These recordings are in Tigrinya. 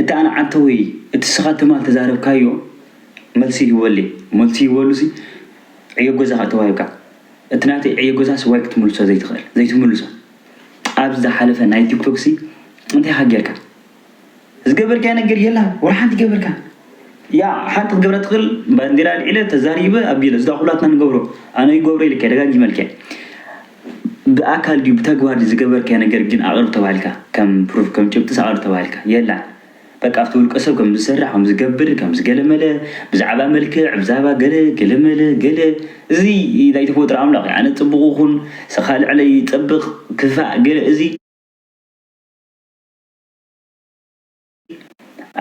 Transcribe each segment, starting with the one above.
እቲ ኣንዓንተ ወይ እቲ ስኻ ትማል ተዛረብካዮ መልሲ ሂቦለይ መልሲ ሂቦሉሲ ዕዮ ገዛኻ ተዋሂብካ እቲ ናተይ ዕዮ ገዛስ ዋይ ክትምልሶ ዘይትኽእል ዘይትምልሶ ኣብዚ ዝሓለፈ ናይ ቲክቶክሲ እንታይ ኢኻ ጌርካ ዝገበርካዮ ነገር የላን ወላ ሓንቲ ኣይገበርካን። ያዕ ሓንቲ ክገብራ ትኽእል ባንዴራ ኣልዒለ ተዛሪበ ኣቢለ እዚዳ ኩላትና ንገብሮ ኣነ ይገብሮ ኢልካዮ ደጋጊመልካዮ ብኣካል ድዩ ብተግባር ድዩ ዝገበርካዮ ነገር ግን ኣቕርብ ተባሂልካ ከም ፕሩፍ ከም ጭብጢስ ኣቕርብ ተባሂልካ የላን በቃ ኣብቲ ውልቀ ሰብ ከም ዝሰርሕ ከም ዝገብር ከም ዝገለመለ ብዛዕባ መልክዕ ብዛዕባ ገለ ገለመለ ገለ እዚ ናይ ተፈጥሮ ኣምላኽ እዩ ኣነ ጽቡቕ ይኹን ስኻ ልዕለይ ይጸብቕ ክፋእ ገለ እዚ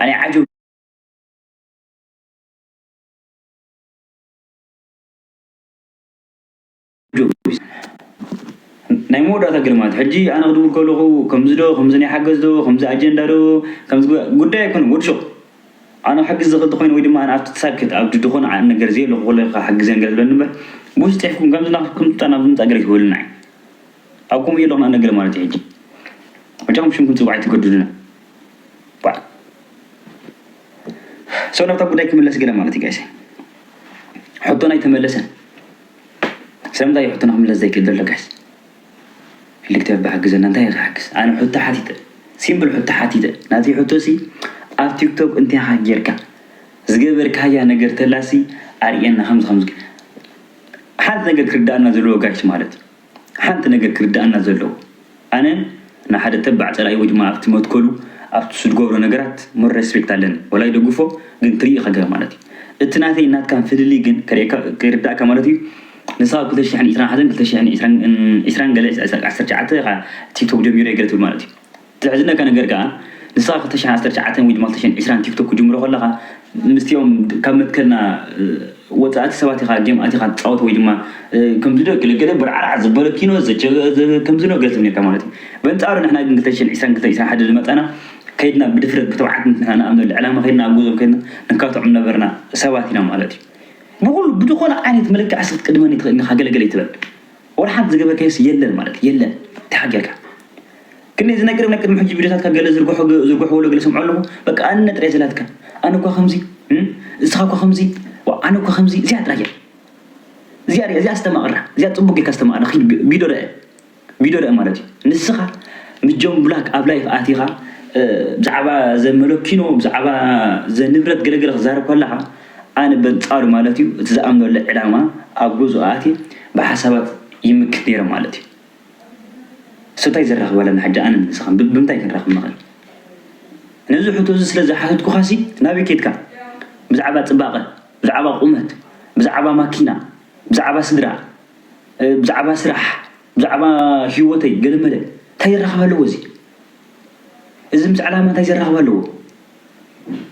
ኣነ ዓጀው ናይ መወዳእታ ግርማት ሕጂ ኣነ ክድውል ከለኹ ከምዚ ዶ ከምዚ ናይ ሓገዝ ዶ ከምዚ ኣጀንዳ ዶ ከምዚ ጉዳይ ኣይኮነ ወድሾቕ ኣነ ክሕግዝ ዝኽእል ተኾይነ ወይ ድማ ኣነ ኣብቲ ተሳክት ኣብ ድኾነ ነገር ዘየለኹ ከሎ ክሓግዘን ገለ ዝብለኒ እምበር ብዙ ጤሕኩም ከምዚ ናትኩም ናብ ምምፃእ ገለ ክህበልና እዩ ኣብ ከምኡ እየ ኣለኹ ንኣነ ገለ ማለት እዩ ሕጂ መቸም ሽምኩም ፅዋዕ ኣይትገዱልና ሰው ናብታ ጉዳይ ክምለስ ገለ ማለት ጋይሰ ሕቶና ኣይተመለሰን። ስለምንታይ እዩ ሕቶና ክምለስ ዘይክእል ዘሎ ጋይስ? ክልተ ብ ሓግዘና እንታይ ክሓግዝ ኣነ ሕቶ ሓቲተ ሲምፕል ሕቶ ሓቲተ ናተይ ሕቶ ሲ ኣብ ቲክቶክ እንታይ ኢኻ ጌርካ ዝገበርካያ ነገር ተላሲ ኣርእየና ከምዚ ከምዚ ሓንቲ ነገር ክርዳኣና ዘለዎ ጋይስ ማለት እዩ ሓንቲ ነገር ክርድኣና ዘለዎ ኣነ ንሓደ ተባዕ ጸላኢ ወይ ድማ ኣብቲ መትከሉ ኣብቲ ዝድገብሮ ነገራት more respect ኣለኒ ወላ ይደግፎ ግን ትሪኢ ከገር ማለት እዩ እቲ ናተይን ናትካን ፍልልይ ግን ከርእየካ ከይርድኣካ ማለት እዩ ንስኻ ኣብ ክልተ ሽሕን ዒስራን ሓዘን ክልተ ሽሕን ዒስራን ዒስራን ገለ ዓሰርተ ትሽዓተ ኢኻ ቲክቶክ ጀሚረ ገለ ትብል ማለት እዩ እቲ ዘሕዝነካ ነገር ከኣ ንስኻ ክልተ ሽሕን ዓሰርተ ትሽዓተን ወይ ድማ ክልተ ሽሕን ዕስራን ቲክቶክ ክትጅምሮ ከለኻ ምስቲኦም ካብ መትከልና ወጻእቲ ሰባት ኢኻ ጌም ኣቲኻ ትጻወት ወይ ድማ ከምዚዶ ገለ ገለ ቦርዓራዕ ዘበለ ኪኖ ዘቸገ ከምዚኖ ገለ ትብል ኔርካ ማለት እዩ። በንጻሩ ንሕና ግን ክልተ ሽሕን ዕስራን ክልተ ሽሕን ዕስራን ሓደ ዝመጻና ከይድና ብድፍረት ብትብዓት ንሕና ንኣምነሉ ዕላማ ከይድና ኣብ ገዝኦም ከይድና ንካትዖም ዝነበርና ሰባት ኢና ማለት እዩ። ብኹሉ ብዝኾነ ዓይነት መለክዒ እስኪ ክትቅድመኒ ትኽእል ዲኻ ገለ ገለ ኣይትበል። ወርሓት ዝገበርካዮስ የለን ማለት የለን ተሓጊርካ ክንደይ ዝነገረ ናይ ቅድሚ ሕጂ ቪድዮታትካ ገለ ዝርግሑ ዝርግሑ ወለ ገለ ሰምዖ ኣለኹ በቃ ኣነ ጥራይ ዘላትካ ኣነ እኳ ከምዚ እስኻ እኳ ከምዚ ዋእ ኣነ እኳ ከምዚ እዚኣ ጥራይ እያ እዚኣ ርኣ እዚኣ ኣስተማቕራ እዚኣ ጽቡቅ ጌርካ ኣስተማቕራ ኪድ ቪድዮ ርኣ ቪድዮ ርኣ ማለት እዩ ንስኻ ምስ ጆን ብላክ ኣብ ላይፍ ኣቲኻ ብዛዕባ ዘመለኪኖ ብዛዕባ ዘንብረት ገለገለ ክዛረብ ከለኻ ኣነ በንጻሩ ማለት እዩ እቲ ዝኣምነሉ ዕላማ ኣብ ጉዝኡ ኣትየ ብሓሳባት ይምክት ነይረ ማለት እዩ so ታይ ዘራኽብ ኣለና ሕጂ ኣነን ንስኻን ብምንታይ ክንራኽብ ንኽእል ነዚ ሕቶ እዚ ስለ ዝሓተትኩኻሲ ናበይ ከድካ ብዛዕባ ጽባቐ ብዛዕባ ቁመት ብዛዕባ ማኪና ብዛዕባ ስድራ ብዛዕባ ስራሕ ብዛዕባ ሂወተይ ገለመለ ታይ ዘራኽብ ኣለዎ እዚ እዚ ምስ ዕላማ ታይ ዘራኽብ ኣለዎ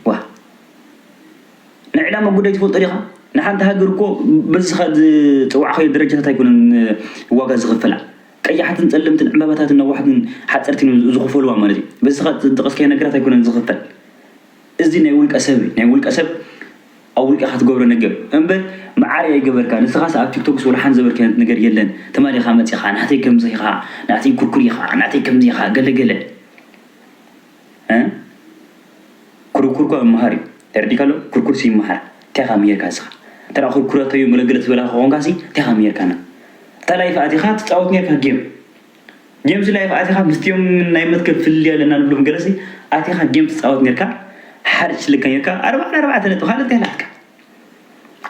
ዋእ ንዕላማ ጉዳይ ትፈልጦ ዲኻ? ንሓንቲ ሃገር እኮ በዝኻ ዝጸዋዕኻዮ ደረጃታት ኣይኮነን ዋጋ ዝኽፈላ። ቀያሕትን ጸለምትን ዕምባባታትን ነዋሕትን ሓጸርትን እዮም ዝኽፈልዋ ማለት እዩ። በዝኻ ዝጠቐስካዮ ነገራት ኣይኮነን ዝኽፈል። እዚ ናይ ውልቀ ሰብ እዩ። ናይ ውልቀ ሰብ ኣብ ውልቀኻ ትገብሮ ነገር እዩ። እምበር መዓረይ ኣይገበርካን። ንስኻስ ኣብ ቲክቶክስ ወላ ሓንቲ ዘበልካዮ ዓይነት ነገር የለን። ትማሊ ኢኻ መጺኻ ናተይ ከምዚ ኢኻ፣ ናተይ ኩርኩር ኢኻ፣ ናተይ ከምዚ ኢኻ ገለ ገለ። እህ ኩርኩር እኮ ይመሃር እዩ ተረዲእካ ዶ ኩርኩርሲ ይመሃር እንታይ ኢኻ ምሂርካ ንስኻ እንተ ኩርኩረቶ እዩ ገለገለ ትበላ ከኾንካሲ እንታይ ኢኻ ምሂርካና ኣብታ ላይፍ ኣቲኻ ትጻወት ኔርካ ጌም ጌምሲ ላይፍ ኣቲኻ ምስቲኦም ናይ መትከል ፍልልይ ኣለና ንብሎም ገለሲ ኣቲኻ ጌም ትጻወት ኔርካ ሓርጭ ትልከ ኔርካ ኣርባዕተ ኣርባዕተ ነጥቢ ካልእ እንታይ ሃላትካ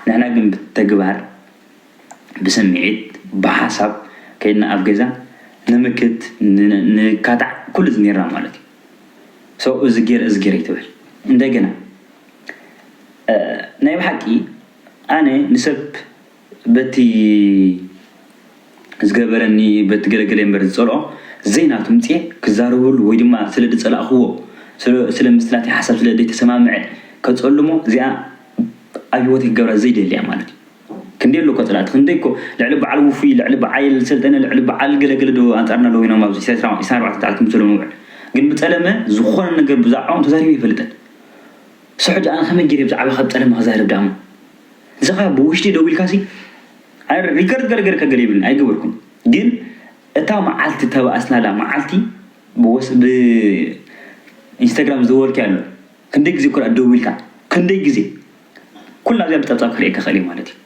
ንሕና ግን ብተግባር ብስሚዒት ብሓሳብ ከይድና ኣብ ገዛ ንምክት ንካታዕ ኩሉ እዚ ኔርና ማለት እዩ so እዚ ጌረ እዚ ጌረ ኣይትበል እንደገና ናይ ብሓቂ ኣነ ንሰብ በቲ ዝገበረኒ በቲ ገለገለ እምበር ዝጸልኦ ዘይናቱ ምጽኤ ክዛረበሉ ወይ ድማ ስለ ዝጸላእክዎ ስለ ምስቲ ናተይ ሓሳብ ስለ ዘይተሰማምዐ ከጸልሞ እዚኣ ኣብ ሂወተይ ክገብራ ዘይደሊ እያ ማለት እዩ። ክንደይ ኣሎ እኮ ጸላእቲ ክንደይ እኮ ልዕሊ በዓል ውፉይ ልዕሊ በዓይል ሰልጠነ ልዕሊ በዓል ገለ ገለ ዶ ኣንጻርና ኣለዉ ኢኖም ኣብዚ ኢሳያስ ኢሳን ኣርባዕተ ትዓል ክምሰሉ ንውዕል ግን ብጸለመ ዝኾነ ነገር ብዛዕባኦም ተዛሪቡ ኣይፈልጥን ሰሑ ደኣን ከመይ ገይረ ብዛዕባ ካብ ጸለመ ክዛረብ ደኣሞ ንስኻ ብውሽጢ ደው ኢልካሲ ኣይ ሪከርድ ገለ ገለ ከገለ ይብልን ኣይገበርኩም ግን እታ መዓልቲ ተባእስናላ መዓልቲ ብወስ ብ ኢንስታግራም ዝደወልኪ ኣሎ ክንደይ ግዜ ኩራ ደው ኢልካ ክንደይ ግዜ ኩላ እዚኣ ብጸብጻብ ክርእየካ ክእል እየ ማለት እዩ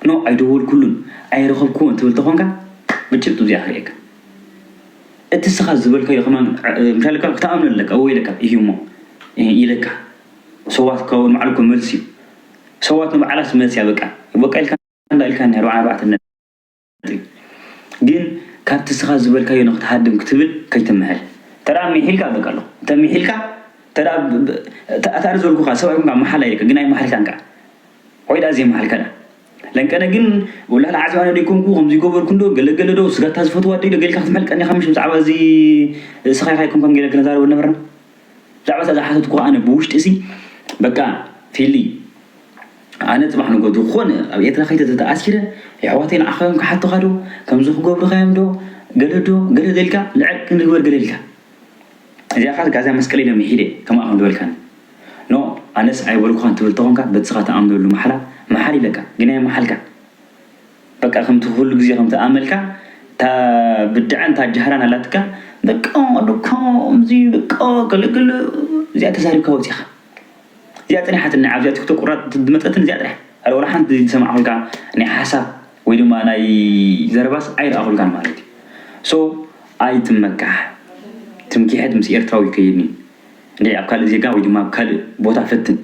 ን ኣይደወልኩሉን ኣይረኸብክዎን ትብል ተኾንካ ብጭብጢ እዚኣ ክርእየካ እቲ እስኻ ዝበልካዮ ከማን ምሻል እካ ክትኣምነ ኣለካ ወይለካ እዩ እሞ ኢለካ ሰዋት ከውን ማዕልኮ መልሲ እዩ ሰዋት ንባዕላስ መልሲ ኣበቃ በቃ ኢልካ እንዳ ኢልካ ን ኣርባዕተ እዩ ግን ካብቲ እስኻ ዝበልካዮ ንክትሃድም ክትብል ከይትምሕል ተደኣ ሚሒልካ በቃ ኣሎ እንተ ሚሒልካ ተደኣ ኣታኣር ዘልኩኻ ሰብኣይ ኮንካ ምሓል ኣይከ ግን ኣይማሓልካን ከኣ ወይ ደኣ ዘይማሓልካ ደኣ ለንቀነ ግን ወላሂ ለዓዘብ ኣነ ደይኮንኩ ከምዚ ገበርኩ እንዶ ገለገለ ዶ ስጋታ ዝፈትዋ ዲለ ገይልካ ክትምሕል ቀኒኻ ምሽ ብዛዕባ እዚ እስኻ ኢኻ ኣይኮንካን ገለ ክንዛረብ ነበርና ብዛዕባ እታ ዝሓተትኩኻ ኣነ ብውሽጢሲ በቃ ፊሊ ኣነ ጽባሕ ንግሆ ዝኾነ ኣብ ኤርትራ ከይተ ተተኣሲረ የሕዋተይ ንዓኻ እዮም ክሓቱኻ ዶ ከምዚ ክገብሩኻ እዮም ዶ ገለ ዶ ገለ ዘልካ ልዕል ክንግበር ገለ ኢልካ እዚኣ ኻስ ጋዛ መስቀል ኢለ ምሒደ ከምኣ ከም ዝበልካኒ ኖ ኣነስ ኣይበልኩኻን ትብል ተኾንካ በቲ ስኻ ትኣምነሉ ማሕላ ምሓል ኢለካ ግን ኣይመሓልካን በቃ ከምቲ ኩሉ ግዜ ከምቲ ኣመልካ እታ ብድዐን እታ ጃህራን ኣላትካ በቃ ኣሎ ከምዚ በቃ ገለ ገለ እዚኣ ተዛሪብካ ወጺኻ እዚኣ ጸኒሓትኒ ኣብዚኣ ቲክቶክ ቁራጽ ዝመጸትን እዚኣ ጥራሕ ኣረ ወላ ሓንቲ ዝሰማዕኩልካ ናይ ሓሳብ ወይ ድማ ናይ ዘረባስ ኣይረኣኹልካን ማለት እዩ ሶ ኣይትመካሕ ትምኪሕት ምስ ኤርትራዊ ይከይድኒ እንድዒ ኣብ ካልእ ዜጋ ወይ ድማ ኣብ ካልእ ቦታ ፈትን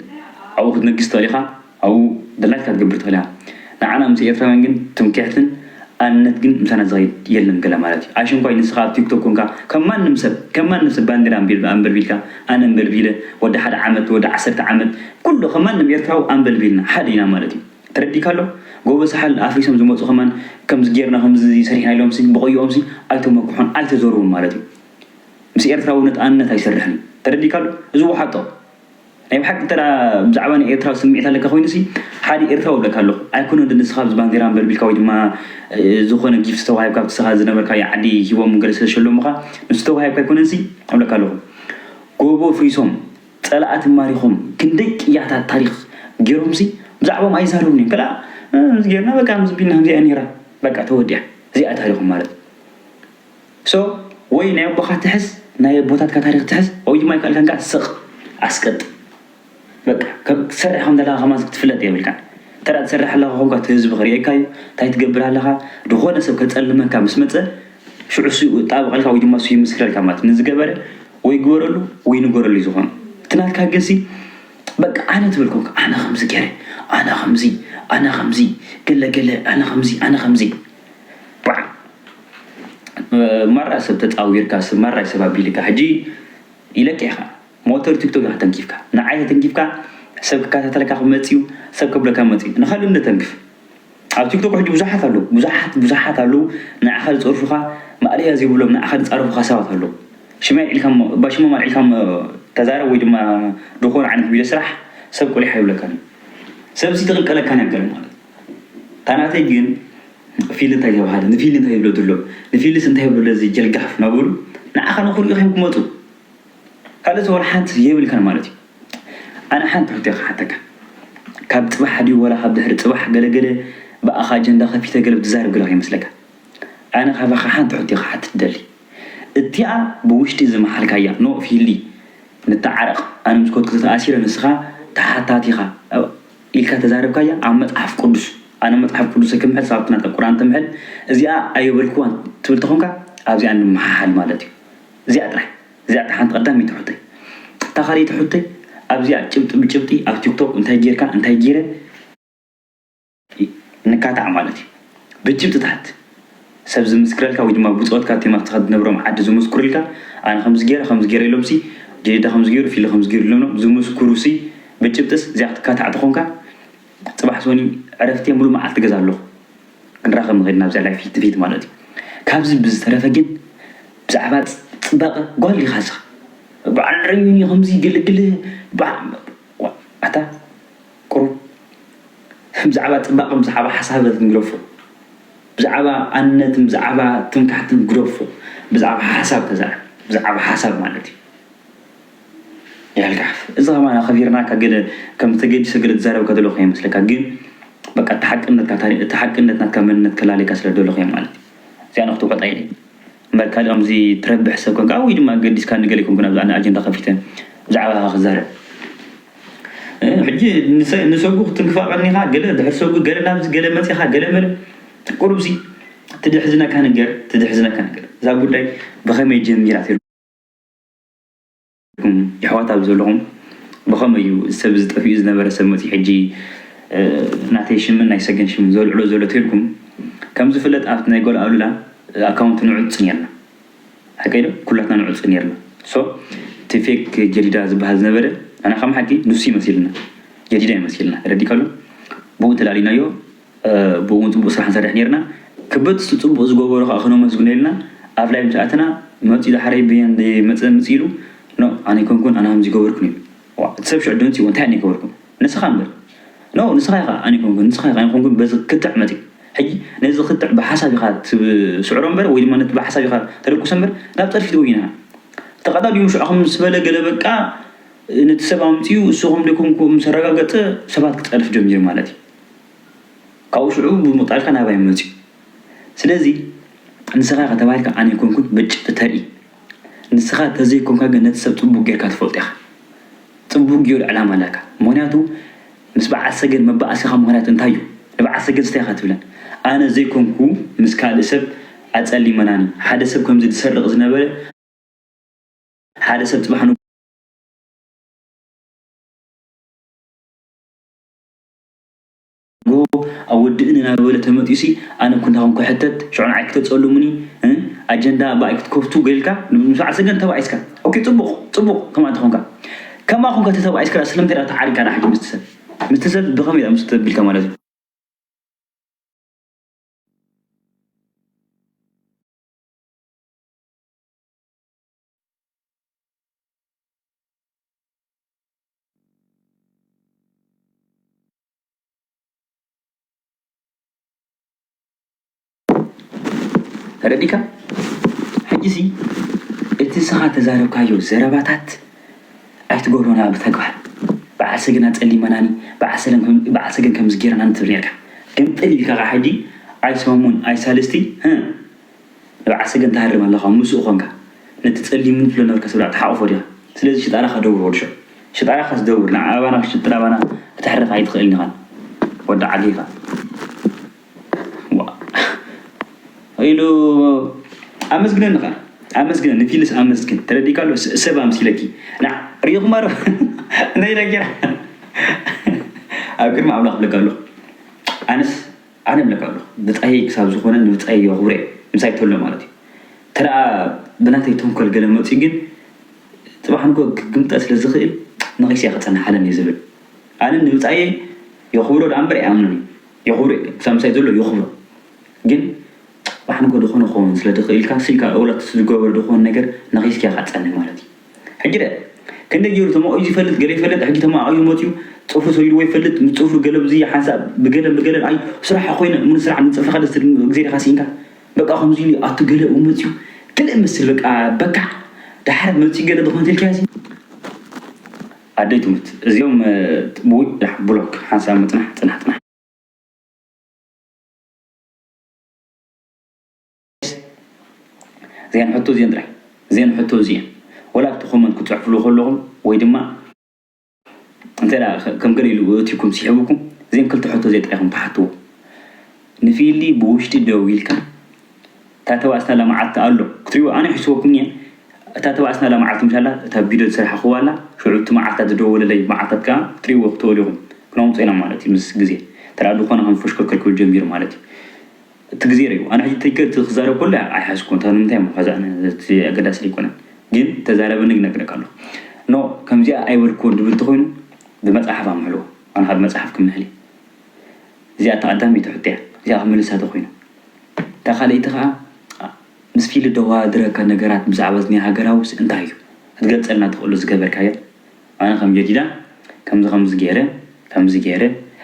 ኣብኡ ክትነግስ ትኽእል ኢኻ ኣብኡ ድላይካ ክትገብር ትኽእል ኢኻ ንዓና ምስ ኤርትራውያን ግን ትምክሕትን ኣንነት ግን ምሳና ዝኸይድ የለን ገለ ማለት እዩ ኣሽንኳይ ንስኻ ኣብ ቲክቶክ ኮንካ ከም ማንም ሰብ ከም ማንም ሰብ ባንዴራ ኣንበልቢልካ ኣነ ኣንበልቢለ ወዲ ሓደ ዓመት ወዲ ዓሰርተ ዓመት ኩሉ ከም ማንም ኤርትራዊ ኣንበልቢልና ሓደ ኢና ማለት እዩ ተረዲካ ኣሎ ጎቦ ሳሕል ኣፍሪሶም ዝመጹ ከማን ከምዚ ጌርና ከምዚ ሰሪሕና ኢሎምሲ ብቐይኦምሲ ኣይተመክሑን ኣይተዘርቡን ማለት እዩ። ምስ ኤርትራዊ ንጣነት ኣይሰርሕን ተረዲካ ዶ እዚ ወሓጦ ናይ ብሓቂ እንተ ብዛዕባ ናይ ኤርትራ ስሚዒት ኣለካ ኮይኑሲ ሓዲ ኤርትራዊ እብለካ ኣለኩ ኣይኮነን ዶ ንስካ ኣብዚ ባንዴራ ኣንበልቢልካ ወይ ድማ ዝኮነ ጊፍት ዝተዋሂብካ ኣብቲ ስካ ዝነበርካዮ ዓዲ ሂቦም ገለ ስለ ዝሸለሙካ ንሱ ዝተዋሂብካ ኣይኮነንሲ እብለካ ኣለኩ ጎቦ ኣፍሪሶም ጸላእቲ ማሪኮም ክንደይ ቅያታት ታሪክ ጌሮምሲ ብዛዕቦም ኣይዛረቡን እዮም ከላ ጌርና በቃ ምዝቢልና ከምዚኣ ኔራ በቃ ተወዲኣ እዚኣ ታሪኮም ማለት so ወይ ናይ ኣቦኻ ትሕዝ ናይ ኣቦታትካ ታሪኽ ትሕዝ ወይ ድማ ኣይከኣልካን ከኣ ስቕ ኣስቅጥ በቃ ከም ትሰርሕ ከም ዘለኻ ከማን ክትፍለጥ የብልካን እንተ ትሰርሕ ኣለኻ ኮንካ እቲ ህዝቢ ክርእየካ እዩ እንታይ ትገብር ኣለኻ ዝኾነ ሰብ ከጸልመካ ምስ መጸ ሽዑ እሱ ይጣበቐልካ ወይ ድማ እሱ ይምስክረልካ ማለት እዩ ንዝገበረ ወይ ግበረሉ ወይ ንገረሉ እዩ ዝኾኑ እቲ ናትካ ግን ሲ በቃ ኣነ ትብል ኮንካ ኣነ ከምዚ ገይረ ኣነ ከምዚ ኣነ ከምዚ ገለ ገለ ኣነ ከምዚ ኣነ ከምዚ ማራ ሰብ ተጻዊርካ ስብ ማራ ሰብ ኣቢልካ ሕጂ ኢለካ ኢካ ሞተር ቲክቶክ ኢካ ተንኪፍካ ንዓይ ተተንኪፍካ ሰብ ክከታተለካ ክመጽ ዩ ሰብ ከብለካ መጽ ዩ ንካልእ ውን ተንክፍ ኣብ ቲክቶክ ሕጂ ብዙሓት ኣለዉ ብዙሓት ብዙሓት ኣለዉ ንዓካ ዝጸርፉካ ማእለያ ዘይብሎም ንዓካ ዝጻረፉካ ሰባት ኣለዉ ሽመይ ኣልዒልካሞ እባ ሽሞም ኣልዒልካሞ ተዛረብ ወይ ድማ ድኮነ ዓይነት ቪድዮ ስራሕ ሰብ ቁሊሕ ኣይብለካን ዩ ሰብ ሲ ትክልከለካ ነገር ማለት ታናተይ ግን ፊሊ እንታይ ተባሃለ ንፊሊ እንታይ ይብሎ ድሎ ንፊሊስ እንታይ ይብሎ ለዚ ጀልጋፍ ናበሉ ንዓኻ ንኽሪኡ ኺም ክመጹ ካልእስ ወላ ሓንቲ የብልካን ማለት እዩ ኣነ ሓንቲ ሕቶ ክሓተካ ካብ ጽባሕ ድዩ ወላ ካብ ድሕሪ ጽባሕ ገለ ገለ ብኣኻ ኣጀንዳ ከፊተ ገለ ትዛረብ ገለ ከይመስለካ ኣነ ካባኻ ሓንቲ ሕቶ ክሓትት ደሊ እቲኣ ብውሽጢ ዝመሓልካያ ኖእ ፊሊ ንተዓረቕ ኣነ ምስ ኮትኩ ተኣሲረ ንስኻ ተሓታቲኻ ኢልካ ተዛርብካያ ኣብ መጽሓፍ ቁዱስ ኣነ መጽሓፍ ቁዱሰይ ክምሕል ሳብቲ ናታ ቁርኣን ትምሕል እዚኣ ኣይበልክዋን ትብል ተኮንካ ኣብዚኣ ንምሓሓል ማለት እዩ እዚኣ ጥራሕ እዚኣ ጥራሕ ሓንቲ ቀዳመይቲ ሑቶይ እታ ካልኣይቲ ሑቶይ ኣብዚኣ ጭብጢ ብጭብጢ ኣብ ቲክቶክ እንታይ ጌርካ እንታይ ጌረ ንካታዕ ማለት እዩ ብጭብጥታት ሰብ ዝምስክረልካ ወይ ድማ ብጾትካ ኣብቲ መኽትኻ እትነብሮም ዓዲ ዝሙስኩርልካ ኣነ ከምዚ ጌረ ከምዚ ጌረ ኢሎምሲ ጀዲዳ ከምዚ ጌሩ ፊሊ ከምዚ ጌሩ ኢሎምኖም ዝሙስኩሩሲ ብጭብጥስ እዚኣ ክትካታዕ ተኾንካ ጽባሕ ሶኒ ዕረፍቲ እየ ሙሉእ መዓልቲ ገዛ ኣለኹ ክንራኸብ ንኽእል ኢና ኣብዚኣ ላይፍ ፊት ንፊት ማለት እዩ ካብዚ ብዝተረፈ ግን ብዛዕባ ጽባቐ ጓል ዲኻ ስኻ በዓል ረዩኒ ከምዚ ግልግል ኣታ ቁሩብ ብዛዕባ ጽባቐ ብዛዕባ ሓሳብ ክንግደፎ ብዛዕባ ኣንነትን ብዛዕባ ትምክሕትን ግደፎ ብዛዕባ ሓሳብ ተዛረብ ብዛዕባ ሓሳብ ማለት እዩ ያል ጋሕፍ እዚ ከማን ኣኸቢርናካ ገለ ከም ተገዲሰ ገለ ትዛረብ ከደለኹ ከይመስለካ ግን በቃ እቲ ሓቅነትካ እቲ ሓቅነት ናትካ መንነት ከላልየካ ስለ ደለኹ እየ ማለት እዩ እዚኣ ንክትውሕጣ ኢለ እምበር ካልእ ከምዚ ትረብሕ ሰብ ኮንካ ወይ ድማ ገዲስካ ንገለ ኣይኮንኩን ኣብዚ ኣነ ኣጀንዳ ከፊተ ብዛዕባኻ ክዛረብ እ ሕጂ ንሰ ንሰጉ ክትንክፋ ቀኒኻ ገለ ድሕሪ ሰጉ ገለ ናብዚ ገለ መጺኻ ገለ መለ ቁሩብሲ ትድሕዝነካ ነገር ትድሕዝነካ ነገር እዛ ጉዳይ ብኸመይ ጀሚራ ኩም የሕዋት ኣብዚ ዘለኹም ብኸመይ እዩ እዚ ሰብ እዚ ጠፊኡ ዝነበረ ሰብ መጺኡ ሕጂ ናተይ ሽምን ናይ ሰገን ሽምን ዘልዕሎ ዘሎ ተልኩም ከም ዝፍለጥ ኣብቲ ናይ ጎል ኣሉላ ኣካውንት ንዑጽ ኔርና ሓቀይ ዶ ኩላትና ንዑጽ ኔርና ሶ እቲ ፌክ ጀዲዳ ዝበሃል ዝነበረ ኣና ከም ሓቂ ንሱ እዩ መሲልና ጀዲዳ እዩ መሲልና ተረዲእካሉ ብኡ ተላሊናዮ ብኡ ውን ጽቡቅ ስራሕ ንሰርሕ ኔርና ክብት ስቲ ጽቡቅ ዝገበሩ ከኣ ክነመስግነልና ኣብ ላይቭ ምስ ኣተና መጽዩ ዳሕረይ በየን ደይ መጽእ ምጽእ ኢሉ ኖእ ኣነ ኣይኮንኩን ኣነ ከምዚ ኣይገበርኩን ኢሉ ዋእ እቲ ሰብ ሽዑ ደንጺዎ እንታይ ኣነ ኣይገበርኩ ንስኻ እምበር ኖእ ንስኻ ኢኻ ኣነ ኣይኮንኩን ንስኻ ኢኻ ኣይኮንኩን በዚ ክትዕ መጽዩ ሕጂ ነዚ ክትዕ ብሓሳብ ኢኻ ትስዕሮ እምበር ወይ ድማ ነቲ ብሓሳብ ኢኻ ተደቁሶ እምበር ናብ ጸድፊ ትበይና ተቀዳዲሙ ሽዑ ከም ምስ በለ ገለ በቃ ነቲ ሰብ ኣምጽዩ እሱ ከም ደይኮንኩ ምስ ኣረጋገጸ ሰባት ክጸድፍ ጀሚሩ ማለት እዩ። ካብኡ ሽዑ ምምቕቃልካ ናባይ መጺኡ። ስለዚ ንስኻ ኢኻ ተባሂልካ ኣነ ኣይኮንኩን ብጭ እተርኢ። ንስኻ ተዘይኮንካ ግን ነቲ ሰብ ጽቡቕ ጌርካ ትፈልጦ ኢኻ። ጽቡቕ ጌሩ ዕላማ ኣላካ። ምኽንያቱ ምስ በዓል ሰገን መባኣሲኻ ምኽንያት እንታይ እዩ? ንበዓል ሰገንስ እንታይ ኢኻ ትብለን? ኣነ ዘይኮንኩ ምስ ካልእ ሰብ ኣጸሊመናኒ። ሓደ ሰብ ከምዚ ዝሰርቕ ዝነበረ ሓደ ሰብ ጽባሕ ንግሆ። ኣጎ ኣብ ወድእን እናበለ ተመጢዩሲ ኣነ እኮ እንታይ ኮንኩ ሕተት ሽዑ ንዓይ ክተጸሉሙኒ እ ኣጀንዳ ባኣይ ክትከፍቱ ገይልካ ንምስባዕ ሰገን ተባኢስካ ኦኬ ጽቡቅ ጽቡቅ ከምኣ እንተኮንካ ከምኣ ኮንካ ተተባኢስካ ድኣ ስለምንታይ ድኣ ተዓሪካ ድኣ ሕጂ ምስቲ ሰብ ምስቲ ሰብ ብከመይ ድኣ ምስ ተቢልካ ማለት እዩ ተረዲካ ሕጂ ሲ እቲ ንስኻ ተዛረብካዮ ዘረባታት ኣይትገብሮና ብተግባር በዓል ሰገን ኣጸሊመናኒ በዓል ሰለም በዓል ሰገን ከምዚ ጌርናኒ ትብል ኔርካ ግምጥል ኢልካ ከኣ ሕጂ ኣይሰሙን ኣይሳልስቲ ንብዓት ሰገን ትሃርም ኣለኻ እሞ ምስኡ ኮንካ ነቲ ጸሊምን ፍለኖር ከስብላዕ ትሓቁፎ ዲኻ ስለዚ ሽጣራኻ ደውር ወድ ሸው ሽጣራኻስ ደውር ንዓ ኣባና ክትሽጥር ኣባና ክትሕረፍ ኣይትኽእልን ኢኻ ወድ ዓገ ኢኻ ዋእ ኢሉ ኣመስግነኒ ኸኣ ኣመስግነ ንፊልስ ኣመስግን ተረዲእካ ኣሎ ሰብ ኣምሲለኪ ንዓ ሪኢኹማ ዶ ነይ ለጌራ ኣብ ቅድሚ ኣምላኽ ብለካ ኣለኹ ኣነስ ኣነ እብለካ ኣለኩ ብጻየይ ክሳብ ዝኮነ ንብጻየይ የኩብሬ ምሳይ ተሎ ማለት እዩ ተደኣ ብናተይ ተንኮል ገለ መጽዩ ግን ጽባሕ ንግሆ ክግምጠ ስለ ዝክእል ነኪሰያ ክጸንሕ ኣለኒ ዝብል ኣነ ንብጻየይ የኩብሮ ደኣ እምበር ኣይኣምኖን እዩ የኩብሬ ክሳብ ምሳይ ዘሎ የኩብሮ ግን ጽባሕ ንግሆ ድኮነ ክከውን ስለ ድክእልካ ስኢልካ እውላትስ ዝገበሮ ድኮን ነገር ነኪስክያ ካትጸንሕ ማለት እዩ ሕጂ ድኣ ክንደይ ጌሩ ተማቂዙ ይፈልጥ ገለ ይፈልጥ ሕጂ ተማኣቂዙ መጺኡ ጽፍሩ ሰጊድዎ ይፈልጥ ምስ ጽፍሩ ገለ ብዚ ሓንሳብ ብገለን ብገለን ኣዩ ስራሓ ኮይነ ምኑ ስራሕ ምስ ጽፍርካ ደስ ትብል እግዜሪካ ሲኢንካ በቃ ከምዚ ኢሉ ኣቱ ገለ ውን መጺኡ ክልእ መስል በቃ በካዕ ዳሓር መጺኡ ገለ ዝኮነ ተልካዮ ሲ ኣደይ ትሙት እዚኦም ብውይ ዳሕ ብሎክ ሓንሳብ ምጽናሕ ጽናሕ ጽናሕ። እዚኣን ሕቶ እዚኤን ጥራሕ እዚኤን ሕቶ እዚኤን ወላ እቲ ኮመንት ክትጽሕፍሉ ከለኹም ወይ ድማ እንተ ከም ገለ ኢሉ እትኩም ሲሕብኩም እዚኤን ክልተ ሕቶ እዚኤን ጥራሕ ኢኹም ትሓትዎ ንፊሊ ብውሽጢ ደው ኢልካ እታ ተባእስና ለማዓት ኣሎ ክትሪኡ ኣነ ሕስወኩም እየ እታ ተባእስና ለማዓት ምሻላ እታ ቪድዮ ዝስራሕኹዋ ኣላ ሽዑ እቲ መዓልታት ዝደወለለይ መዓልታት ከዓ ክትሪእዎ ክትእሉ ኢኹም ክነውፅእ ኢና ማለት እዩ ምስ ግዜ ተራ ድኾነ ከም ፈሽከርከር ክብል ጀሚሩ ማለት እዩ እቲ ግዜ ርኡ ኣነ ሕጂ ተይከ እቲ ክዛረብ ከሎ ኣይሓዝኩዎን እታ ንምንታይ እሞ ከዛ ኣነ እቲ ኣገዳሲ ደይኮነን ግን ተዛረበኒ ክነግረካ ኣለኩ ን ከምዚኣ ኣይበልኩዎን ድብል ተኮይኑ ብመጽሓፍ ኣምሕሎ ኣነ ከኣ ብመጽሓፍ ክምሕል እየ እዚኣ እታ ቀዳመይቲ ሕቶ እያ እዚኣ ክምልሳ ተኮይኑ እታ ካልኣይቲ ከኣ ምስ ፊሊ ደዋድረካ ነገራት ብዛዕባ እዚ ናይ ሃገራውስ እንታይ እዩ ክትገልጸልና ትክእሎ ዝገበርካዮ ኣነ ከም ጀዲዳ ከምዚ ከምዚ ጌረ ከምዚ ጌረ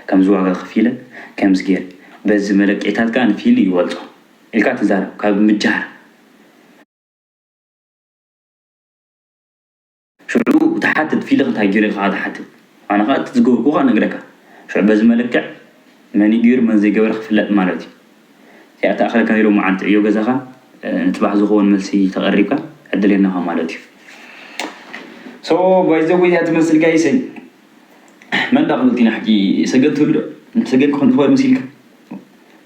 ከምዚ ዋጋ ከፊለ ከምዚ ጌረ በዚ መለክዒታት ከኣ ንፊሊ ይበልጾ ኢልካ ትዛረብ ካብ ምጃህራ ሽዑ ትሓትት ፊሊ እንታይ ጌሩ ኢልካ ትሓትት ኣነ ከኣ እቲ ዝገበርኩ ከኣ ነግረካ ሽዑ በዚ መለክዕ መንዩ ጌሩ መን ዘይገበረ ክፍለጥ ማለትዩ። ከይኣተኣኻልካ ናይ ሎሚ መዓልቲ ዕዮ ገዛኻ ንፅባሕ ዝኸውን መልሲ ተቐሪብካ ዕድሌናኻ ማለት እዩ ሶ ባይ ዘ ወይ እዚኣ ትመስል ጋይሰይ መን ዳኣ ክብል ቲና ሕጂ ሰገን ትህሉ ዶ ንሰገን ክኾን ዝኽእል መሲልካ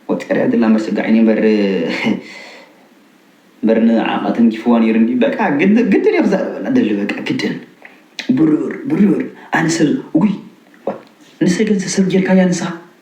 ወጢራ እያ ዘላ እምበር ስጋዕ እኔ እምበር እምበር ንዓኻ ተንኪፍዋ ነይሩ እንዲ በቃ ግድ ግድን እዩ ክዛረበላ ደሊ በቃ ግድን ብርር ብርር ኣነ ሰብ ውይ ንሰገን ሰብ ጌርካያ ንስኻ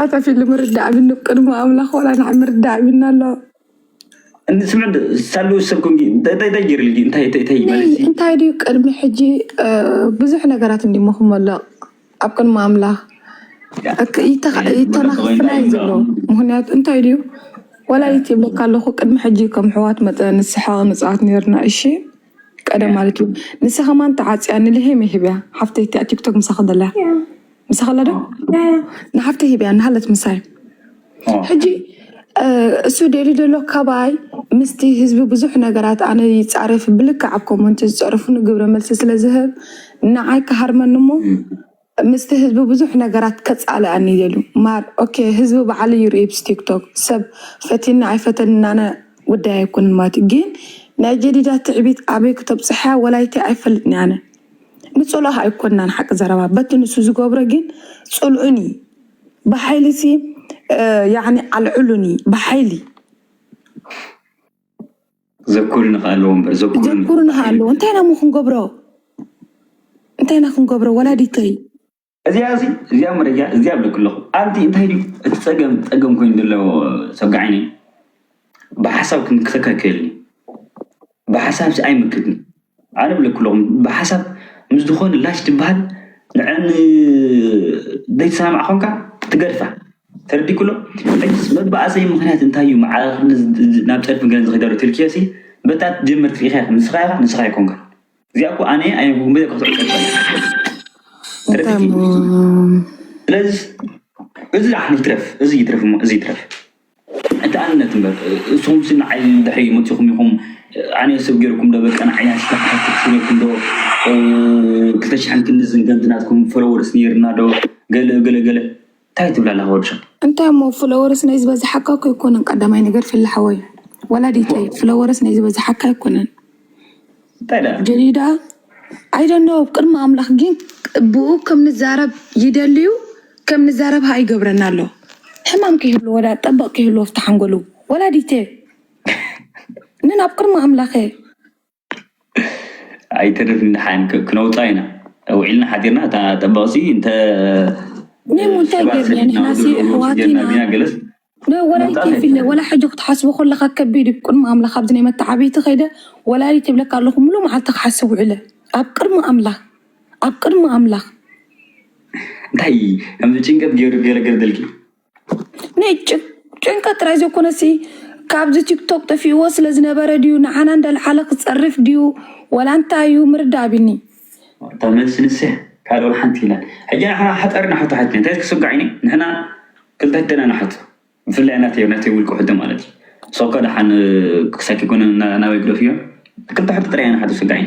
ኣታ ፊልም ምርዳእ ቢኒ ኣብ ቅድሚ ኣምላኽ ዋላ ንዓ ምርዳእ ቢኒ ኣሎ እንታይ ድዩ ቅድሚ ሕጂ ብዙሕ ነገራት እንዲሞ ክመልቕ ኣብ ቅድሚ ኣምላኽ ይተናኽፍና እዩ ዘሎ ምክንያቱ እንታይ ድዩ ዋላ ይትብለካ ኣለኹ ቅድሚ ሕጂ ከም ኣሕዋት መጠን ንስሕቕ ንፃወት ኔርና እሺ ቀደም ማለት እዩ ንሳ ከማን ተዓፅያ ንልሄም እየ ሂበያ ሓፍተይ እቲኣ ቲክቶክ ምሳኺ ዘላ ምሳኺ ኣላ ዶ ንሓፍተይ ሂበያ እናሃለት ምሳይ ሕጂ እሱ ደልዩ ዘሎ ካባይ ምስቲ ህዝቢ ብዙሕ ነገራት ኣነ ይፃረፍ ብልክዕ ኣብ ኮመንት ዝፀረፉ ንግብረ መልሲ ስለ ዝህብ ንዓይ ክሃርመኒ እሞ ምስቲ ህዝቢ ብዙሕ ነገራት ከጻልኣኒ ይደልዩ ማር ኦኬ ህዝቢ ባዕሉ ይርእይ ብስ ቲክቶክ ሰብ ፈቲኒ ኣይፈተኒ ናነ ጉዳይ ኣይኮነን ማለት እዩ ግን ናይ ጀዲዳ ትዕቢት ኣበይ ክተብጽሕያ ወላይቲ ኣይፈልጥን ኣነ ንጽልኦ ኣይኮናን ሓቂ ዘረባ በቲ ንሱ ዝገብሮ ግን ጽልኡኒ ብሓይሊ ሲ ያኒ ኣልዕሉኒ ብሓይሊ ዘኩርንኻ ኣለዎ እምበር ዘኩርንኻ ኣለዎ እንታይ ናሞ ክንገብሮ እንታይ ኢና ክንገብሮ ወላዲተይ እዚኣ እዚ እዚኣ መረጃ እዚኣ ብለኩ ኣለኹ ኣንቲ እንታይ ድዩ እቲ ፀገም ፀገም ኮይኑ ዘሎ ሰጋዓይኒ ብሓሳብ ክንክተካከየልኒ ብሓሳብ ሲ ኣይምክትን ኣነ ብለኩለኹም ብሓሳብ ምስ ዝኾነ ላሽ ትበሃል ንዐን ዘይትሰማማዕ ኮንካ ትገድፋ ተረዲኩሎ ሕጅስ መባኣሰይ ምኽንያት እንታይ እዩ መዓረኽኒ ናብ ጸድፊ ገን ዝኺደሉ ትልክዮሲ በታ ትጀምር ትሪኢኻ ኢኻ ንስኻ ኢኻ ንስኻ ኣይኮንካን እዚኣ እኮ ኣነ ኣይንኩን በይ ከፍትዑ ተረዲኪ ስለዚ እዚ ኣሕኒ ይትረፍ እዚ ይትረፍ እዚ ይትረፍ ኣንታ ኣንነት እምበር እስኹምሲ ንዓይ ድሕሪ መጺኹም ኢኹም ኣነ ሰብ ገይርኩም ዶ በቃ ንዓይ ናትካ ተኸተልቲ ነይርኩም ዶ ክልተ ሽሕን ክንድዝን ከምቲ ናትኩም ፎሎወርስ ነይርና ዶ ገለ ገለ ገለ ታይ ትብል ኣለኻ ወዲ ሸቃ እንታይ እሞ ፍለወርስ ናይ ዝበዝሓካ እኮ ኣይኮነን ቀዳማይ ነገር ፍለ ሓወይ ወላዲተይ ፍለወርስ ናይ ዝበዝሓካ ኣይኮነን ግን እዩ ደኣ ኣይደኖ ቅድሚ ኣምላኽ ግን ብኡ ከም ንዛረብ ይደልዩ ከም ንዛረብ ሃኣ ይገብረና ኣሎ ሕማም ከይህሉ ወላ ጠበቕ ከይህሉ ወፍቲ ሓንጎሉ ወላዲተ ንን ኣብ ቅድሚ ኣምላኸ ኣይተርፍ ንደሓን ክነውፃ ኢና ውዒልና ሓዲርና እታ ጠበቕሲ እንተ ኔሙ እንታይ ገርና ንሕናሲ ኣሕዋት ኢና ገለስ ወላዲት የብለ ወላ ሕጂ ክትሓስቦ ከለካ ከቢድ እዩ ቅድሚ ኣምላክ ኣብዚ ናይ መተዓብይቲ ከይደ ወላዲት ይብለካ ኣለኩ ሙሉእ መዓልቲ ክሓስብ ውዕለ ኣብ ቅድሚ ኣምላክ ኣብ ቅድሚ ኣምላክ እንታይ ከምዚ ጭንቀት ገይሩ ገለገለ ደልኪ ናይ ጭ- ጭንቀት ጥራይ ዘይኮነሲ ካብዚ ቲክቶክ ጠፊእዎ ስለ ዝነበረ ድዩ ንዓና እንዳልዓለ ክፀርፍ ድዩ ወላ እንታይ እዩ ምርዳእ ኣብኒ እታ መልሲ ንስያ ካልእ ወላ ሓንቲ የላን ሕጂ ንሕና ሓጠርና ሕቶ ሓቲና እንታይ ክትስጋዕ ኢኒ ንሕና ክልተ ሕቶና ንሓቶ ብፍላይ ናተይ ናተይ ውልቀ ሕቶ ማለት እዩ ሶከ ደሓን ክሳይ ከይኮነ ናበይ ግደፍዮ ክልተ ሕቶ ጥራይ ንሓቶ ስጋይ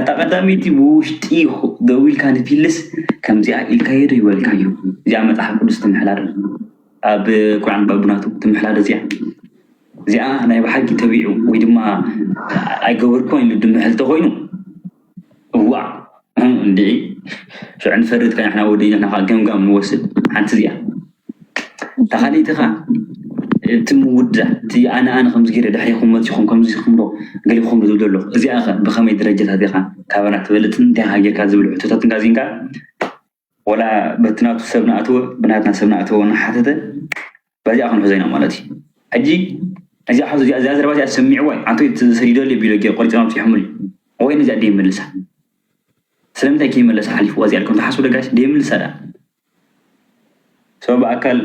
እታ ቀዳመይቲ ብውሽጢ ደዊልካ ንፊልስ ከምዚኣ ኢልካዮ ዶ ይበልካዮ እዚኣ መፅሓፍ ቅዱስ ትምሕላር ኣብ ቁርዓን ባቡናቱ ትምሕላር እዚኣ እዚኣ ናይ ብሓቂ ተቢዑ ወይ ድማ ኣይገበርኩን ኢሉ ድምሕል ተኮይኑ እዋእ እንድዒ ሽዑ ንፈርድ ከኣ ንሕና ወዲእና ንሕና ከኣ ገምጋም ንወስድ ሓንቲ እዚኣ እታ ካልኣይቲ ከኣ እቲ ምውዳእ እቲ ኣነ ኣነ ከምዚ ገይረ ድሕሪኹም መፂኹም ከምዚ ኢኹም ዶ ገሊኹም ዶ ዝብል ዘሎ እዚኣ ከ ብኸመይ ደረጃታት ኢኻ ካባና ትበልፅን እንታይ ኢኻ ጌርካ ዝብል ሕቶታት እንዳ እዚኣን ከኣ ወላ በቲ ናቱ ሰብ ናኣተወ ብናትና ሰብ ናኣተወ ናሓተተ በዚኣ ክንሕዞ ኢና ማለት እዩ ሕጂ እዚኣ ሕዞ እዚኣ እዚኣ ዘረባ እዚኣ ሰሚዕዋ እዩ ኣንተ ሰዲደሉ እዩ ቢሎጌ ቆሪጾም ኣብጺሖምሉ እዩ ወይን እዚኣ ደይምልሳ ስለምንታይ ከይመለሳ ሓሊፍዋ እዚኣ ኢልኩም ትሓስቡ ዶ ጋይስ ደይምልሳ ደኣ ሰው ብኣካል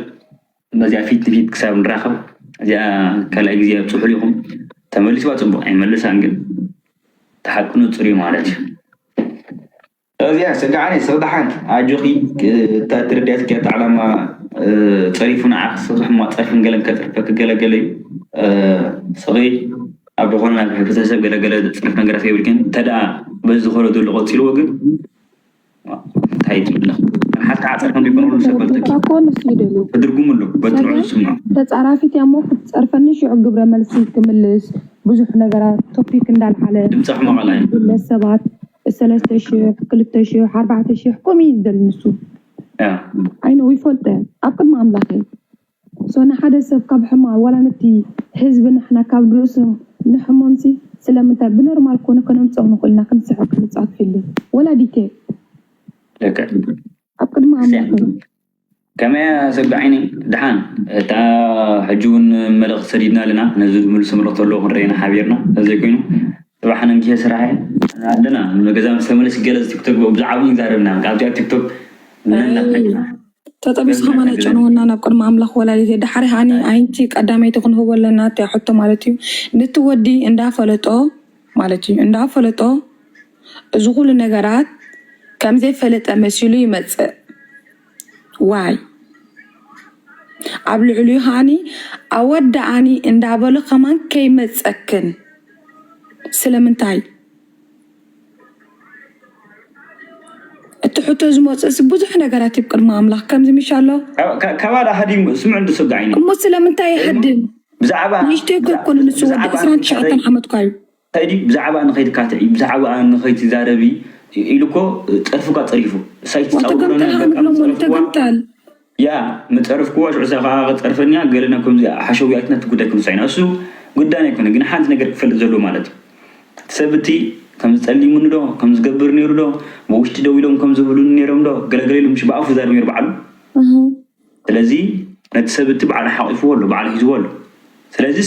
በዚኣ ፊት ንፊት ክሳብ ንራኸብ እዚኣ ካልኣይ ግዜ ኣብፅሑሉ ኢኹም ተመሊስዋ ፅቡቅ ኣይመልሳን ግን ተሓቁ ንፁር እዩ ማለት እዩ እዚኣ ሰጋዓኒ ስርዳሓንት ኣጆኺ እታ ትርዳያትኪ ኣታ ዕላማ ፀሪፉ ንዓኺ ስርሒ እሞ ፀርፊን ገለን ከፅርፈኪ ገለ ገለ እዩ ስኺ ኣብ ዝኾነ ናብ ሕብረተሰብ ገለ ገለ ዘፅርፍ ነገራት ከይብልክን እንተድኣ በዚ ዝኾነ ዘሎ ቀፂልዎ ግን እንታይ ትብለኺ ሓንቲ ከዓ ፀርፊ እንዲኮነሉ ሰብ በልተኪ ትድርጉሙ ኣሎ በቲ ንዑ ዝስምዑ ተፃራፊት እያ እሞ ክትፀርፈኒ ሽዑ ግብረ መልሲ ክምልስ ብዙሕ ነገራት ቶፒክ እንዳልዓለ ድምፃ ሕማቕ ኣላ እዩ ሰባት ሰለስተ ሽሕ ክልተ ሽሕ ኣርባዕተ ሽሕ ከምኡ እዩ ዝደሊ ንሱ ኣይነ ይፈልጠ ኣብ ቅድሚ ኣምላኽ እዩ ሶ ንሓደ ሰብ ካብ ሕማ ዋላ ነቲ ህዝቢ ንሕና ካብ ርእሱ ንሕሞምሲ ስለምንታይ ብኖርማል ኮነ ከነምፅኦ ንኽእል ኢና ክንስሕብ ክንፃት ፊልም ወላ ዲቴል ደቂ ኣብ ቅድሚ ኣምላኽ እዩ ከመይ ኣሰጋዒኒ ደሓን እታ ሕጂ ውን መልእኽቲ ሰዲድና ኣለና ነዚ ዝምልሶ መልእኽቲ ኣሎ ክንርኢ ኢና ሓቢርና ተዘይኮይኑ ጽባሕ ንግሆ ስራሕ እየ ኣለና ገዛ ምስ ተመለስኩ ገለ ቲክቶክ ብዛዕባ ውን ክንዛረብ ኢና ኣብዚኣ ቲክቶክ ተጠቢሱ ከማን ኣይጨንወና ናብ ቅድሚ ኣምላኽ ወላዲት እየ ደሓር ሃኒ ኣንቲ ቀዳመይቲ ክንህቦ ኣለና እቲኣ ሕቶ ማለት እዩ ንቲ ወዲ እንዳ ፈለጦ ማለት እዩ እንዳፈለጦ እዚ ኩሉ ነገራት ከምዘይፈለጠ መሲሉ ይመፅእ ዋይ ኣብ ልዕሊኡ ከዓኒ ኣወዳኣኒ እንዳበሎ ከማን ከይመፀክን ስለምንታይ እቲ ሕቶ ዝመፅእሲ ብዙሕ ነገራት እዩ ቅድሚ ኣምላክ ከምዚ ምሻሎ ከማን ኣሃዲሙ ስምዑ እንድስጋዒኒ እሞ ስለምንታይ ይሃድም ብዛዕባ ንእሽተይ እኮ ኣይኮነን ንሱ ወዲ ብዛዕባ ዕስራን ትሽዓተን ንክትዕረዪ ዓመትኳ እዩ። ከይዲ ብዛዕባኣ ንከይትካትዒ ብዛዕባኣ ንከይትዛረቢ ኢሉ እኮ ፀርፉካ ፀሪፉ እሳ ኣይትፃወሮ ወተገምጠል ነበር ካብ ሃንግሎሞ ዝፀረፍክዋ ንተገምጠል ያ ምፀረፍክዋ ሽዑ እሳ ካዓ ክፀርፈኒያ ገለ ናብ ከምዚ ሓሸውያት ናቲ ጉዳይ ክንሳ ኢና እሱ ጉዳይና ኣይኮነን ግን ሓንቲ ነገር ክፈልጥ ዘለዎ ማለት እቲ ሰብ እቲ ከምዚ ፀሊሙኒ ዶ ከምዚ ዝገብር ነይሩ ዶ ብውሽጢ ደው ኢሎም ከምዚ ዝብሉኒ ነይሮም ዶ ገለገለ ኢሉ ምሽ ብኣፉ ዛሪቡ ነይሩ ባዕሉ እህ ስለዚ ነቲ ሰብ እቲ ባዕሉ ሓቂፍዎ ኣሎ ባዕሉ ሒዝዎ ኣሎ ስለዚ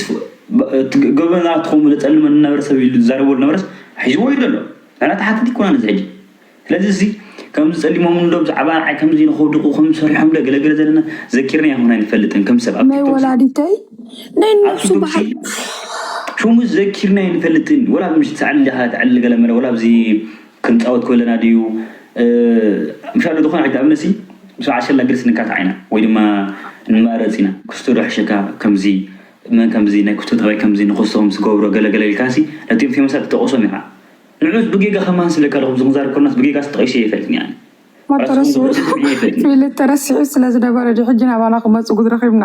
እቲ ገበና ትኸውን ዘጸልመኒ ዝነበረ ሰብ ኢሉ ዝዛረቦ ዝነበረስ ሒዝዎ እዩ ዘሎ ንሕና ተሓተቲ ኣይኮናን እዚ ሕጂ ስለዚ እዚ ከምዚ ጸሊሞምኒ ዶ ብዛዕባ ንዓይ ከምዚ ኢሉ ከውድቁ ከምዚ ሰሪሖም ዶ ገለገለ ዘለና ዘኪርኒ ኣይኮን ኣይንፈልጥን ከም ሰብ ኣብ ናይ ቲክቶክ ወላዲተይ ናይ ኣብ ንሱ ቲክቶክ በዓል ሽሙ ዘኪርኒ ኣይንፈልጥን ወላ ኣብ ምሽት ሰዓት ልደት ዕሊ ገለ መለ ወላ ኣብዚ ክንጻወት ኮለና ድዩ ምሻሉ ድኾነ ዓይነት ኣብነሲ ምስ በዓል ሸላ ግርስ ንካታዕ ኢና ወይ ድማ ንማረጽ ኢና ኩስቶ ዶ ሕሸካ ከምዚ መን ከምዚ ናይ ኩስቶ ጠባይ ከምዚ ንኹስቶ ከምዚ ትገብሮ ገለ ገለ ኢልካሲ ነቲኦም ፌመሳት ትጠቕሶም ኢኻ ንዑስ ብጌጋ ከማን ስለካ ዶ ከምዚ ክንዛረብ ኮለናስ ብጌጋስ ተጠቒሰ ኣይፈልጥን እየ ኣነ ሞቶ ረሲዑ ፊሊ ተረሲዑ ስለ ዝነበረ ድዩ ሕጂ ናባና ክመጹ ግድ ረኺብና።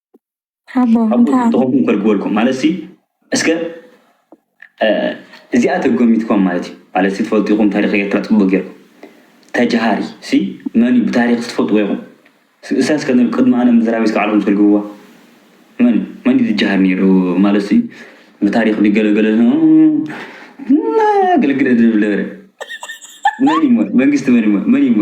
ሓቦ ሓቦ እንታይ ኣሎ? ተኾንኩም ከርግበልኩም ማለት ሲ እስከ እ፣ እዚኣ ተጎሚትኩም ማለት እዩ ማለት ሲ ትፈልጡ ኢኹም ታሪኽ ኤርትራ ጽቡቅ ጌርኩም ተጃሃሪ ሲ መን እዩ ብታሪኽ ስትፈልጥዎ ኢኹም ሲ እሳ እስከ ን ቅድሚ ኣነ ምዝራበይ እስከ ባዕልኹም ተርግብዋ መን እዩ መን እዩ ዝጃሃር ኔሩ ማለት ሲ ብታሪኽ ድዩ ገለ ገለ ን ግልግል ድብል ነበረ መን እዩ እሞ መንግስቲ መን እዩ እሞ መን እዩ እሞ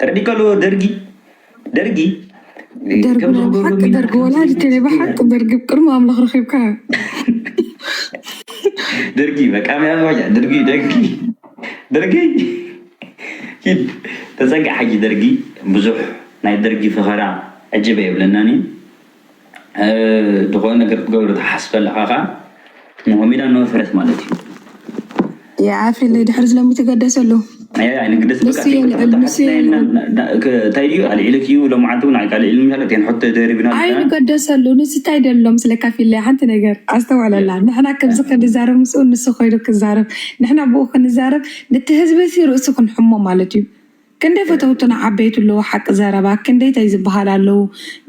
ጥርዲ ከሎ ደርጊ ደርጊ ደርጊ ናይ ብሓቂ ደርጊ ወላዲተይ ናይ ብሓቂ ደርጊ ቅድሚ ኣምላኽ ረኺብካ ደርጊ መቃሚ ኣባያ ደርጊ ደርጊ ደርጊ ሂድ ተፀግዕ ሓጂ ደርጊ ብዙሕ ናይ ደርጊ ፈኸራ ዕጅበ የብለናን እዩ ዝኾነ ነገር ክትገብር ትሓስብ ኣለኻ ከኣ ንሆም ኢላ ንሆም ፍረት ማለት እዩ። የዓፊ ናይ ድሕሪ ዝለሚ ትገደሰሉ እንታይ ድዩ ኣልዒልክ እዩ ሎምዓንቲ እውን ዓይካ ልዒሉ ማለት እየን ሕቶ ደሪብና ኣይንገደሰሉ ንሱ እንታይ ደሎም ስለ ካፊለ ሓንቲ ነገር ኣስተውዕለላ ንሕና ከምዚ ክንዛረብ ምስኡ ንሱ ኮይኑ ክዛረብ ንሕና ብኡ ክንዛረብ ነቲ ህዝቢ ርእሱ ክንሕሞ ማለት እዩ ክንደይ ፈተውትና ዓበይቲ ኣለዉ ሓቂ ዘረባ ክንደይ ታይ ዝብሃል ኣለዉ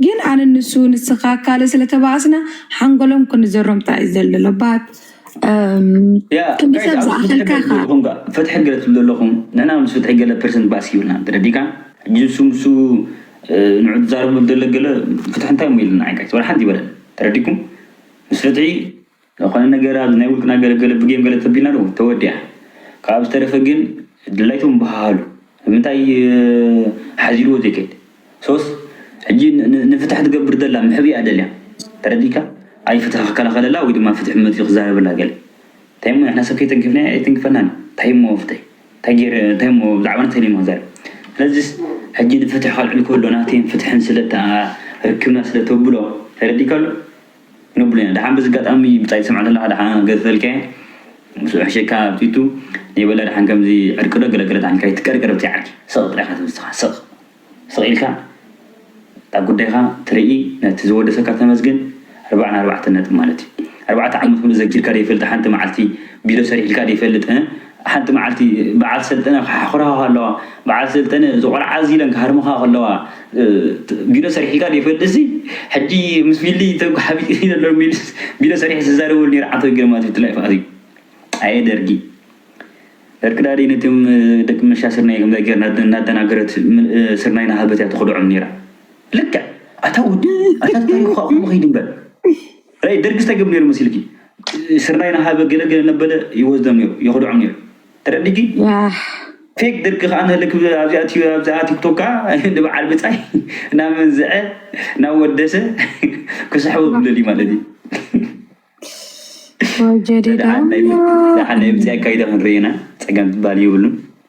ግን ኣነ ንሱ ንስካ ካልእ ስለ ተባኣስና ሓንጎሎም ክንዘሮም ጥራይ እዩ ዘልሎ ባት ያ ክንዲ ጋይስ ሰብ ኣብዚ ፍትሒ ገለ ዝኣኸልካ ትብሉ ኢኻ ኣለኹም ጋእ ፍትሒ ገለ ትብሉ ኣለኹም ንሕና ምስ ፍትሒ ገለ ፐርሰንት ባእሲ ይብልና ተረዲእካ ሕጂ ንሱ ንሱ ንዑ ትዛረቡ ደለ ገለ ፍትሒ እንታይ እሞ ኢሉና ኣይ ጋይስ ዋላ ሓንቲ ኣይበለን ተረዲእኩም ምስ ፍትሒ ዝኾነ ነገር ኣብዚ ናይ ውልቅና ገለ ገለ ብጌም ገለ ተቢልና ዶ ተወዲኣ ካብኣ ብዝተረፈ ግን ድላይትኩም በሃሃሉ ንምንታይ ሓዚልዎ ዘይከይድ ሶስ ሕጂ ንፍትሕ ትገብር ዘላ ምሕብ እያ ደልያ ተረዲእካ ኣይ ፍትሒ ክከላኸለላ ወይ ድማ ፍትሒ መጺኡ ክዛረበላ ገለ እንታይ እሞ ንሕና ሰብ ከይተንከፍናዮ ኣይተንክፈናን እንታይ እሞ ፍትሒ እንታይ ገይረ እንታይ እሞ ብዛዕባ እንታይ ደልዮም ክዛረብ ስለዚስ ሕጂ ንፍትሒ ከልዕል ከሎ ናተይን ፍትሕን ስለ ርክብና ስለ ተብሎ ተረዲእካ ኣሎ ንብሉና ደሓን በዚ ኣጋጣሚ ብጻይ ሰማዕታትና ደሓን ኣገሰልካዬ ምስ ውሕሸካ ኣብ ቲቱ ነይ በላ ደሓን ከምዚ ዕርቂ ዶ ገለ ገለ ደሓን ካይ ትቀርቀር ብዘይ ዓርኪ ስቅ ጥራይ ኢካ ትብዝትካ ስቅ ስቅ ኢልካ እታ ጉዳይካ ትርኢ ነቲ ዝወደሰካ ተመስገን ኣርባዓ ኣርባዕተ ነጥቢ ማለት እዩ ኣርባዕተ ዓመት ሙሉእ ዘኪርካ ዶ ይፈልጥ ሓንቲ መዓልቲ ቢሮ ሰሪሒልካ ዶ ይፈልጥ እ ሓንቲ መዓልቲ በዓል ሰልጠነ ክሓኹራኻ ከለዋ፣ በዓል ሰልጠነ እዚ ቆልዓ እዚ ኢለን ክሃርሙኻ ከለዋ፣ ቢሎ ሰሪሒልካ ዶ ይፈልጥሲ ሕጂ ምስ ቢሊ ተጉሓቢጠ ዘሎ ቢልስ ቢሎ ሰሪሐ ዝዛረበሉ ኔረ ዓንተው ግርማ ትብል ትላይ ፋኣዚ ኣየ ደርጊ ደርቂ ዳዲ ነቶም ደቂ ምልሻ ስርናይ ከምዛ ጌርና እናደናገረት ስርናይ ናሃበት እያ ተኽድዖም ኔራ ልክዕ ኣታ ወዲ ኣታ ታሪኽካ እኹም ኸይዲ እምበር ራይ ደርጊ ስታይ ገብር ነይሩ መሲልኪ ስርናይ ናሃበ ገለ ገለ ነበለ ይወስዶም ነይሩ የኽድዖም ነይሩ ተረዲኪ ፌክ ደርጊ ከኣ ንህልክ ኣብዚኣ ትዩ ኣብዚኣ ቲክቶክ ከኣ ንበዓል ብጻይ ናመንዝዐ ናወደሰ ክስሕቦ ብለልዩ ማለት እዩ ጀዲዳ ናይ ብጻይ ኣካይዳ ክንርእና ጸገም ትበሃል የብሉን